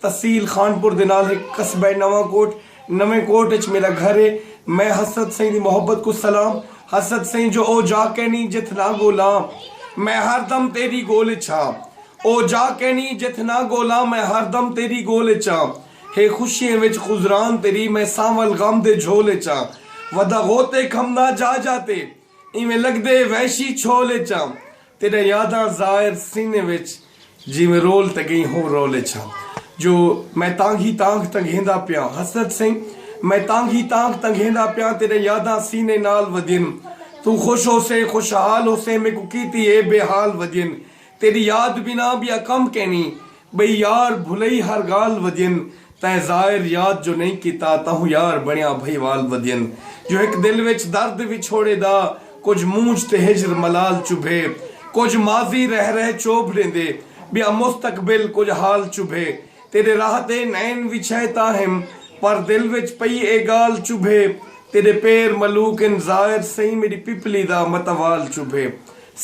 تحصیل خانپور دے نال ہک قصبہ نواں کوٹ۔ نویں کوٹ اچ میݙا گھر ہے۔ میں حسرت سئیں دی محبت کوں سلام۔ حسرت سئیں جو او جا کینی جتھ نہ ڳولاں میں ہر دم تیݙی ڳول اچ ہاں۔ او جا کینی جتھ نہ ڳولاں میں ہر دم تیݙی ڳول اچ ہاں۔ ہے خوشیاں وچ خضران تیݙی میں سانول غم دے جھول اچ ہاں۔ ودا غوطے کھمدا جا جا تے ایویں لڳدے وحشی چھول اچ ہاں۔ تیڈا یاداں زائر سینے وچ جیویں رول تے گئیں ہوں رول اچ ہاں جو میں تانگھی تانگھ تنگھیندا پیاں حسرت سئیں میں تانگھی تانگھ تنگھیندا پیاں تیڈا یاداں سینے نال ودین توں خوش ہوسیں خوشحال ہوسیں میکوں کیتی اے بے حال ودین تیڈی یاد بنا بیا کم کینی بئی یار بھلئی ہر گالھ ودین تیں زائر یاد جو نئیں کیتا تہوں یار بنیا بھئی وال ودین جو ہک دل وچ درد وچھوڑے دا کجھ مونجھ تے ہجر ملال چبھے کجھ ماضی رہ رہ چوبھ ڈیندے بیا مستقبل کجھ حال چبھے تیڈے راہ تے نین وچھئے تاں ہم پر دل وچ پئی اے گالھ چبھے تیڈے پیر ملوک ان زائر سئیں میڈی پپلی دا متوال چبھے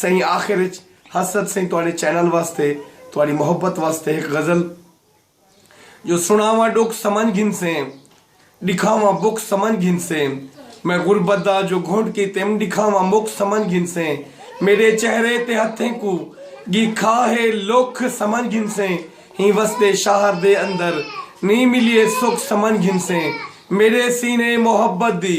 سئیں آخر اچ حسرت سئیں تہاڈے چینل واسطے تہاڈی محبت واسطے ہک غزل جو سنڑاواں ڈکھ سمجھ گھنسیں ڈکھاواں بکھ سمجھ گھنسیں میں غربت دا جو گھنٹ کیتیم ڈکھاواں مکھ سمجھ گھنسیں میڈے چہرے تے ہتھیں کوں گی کھا ہے لکھ سمجھ گھنسیں ہیں وسدے شہر دے اندر نی ملیے سکھ سمجھ گھنسیں میڈے سینے محبت دی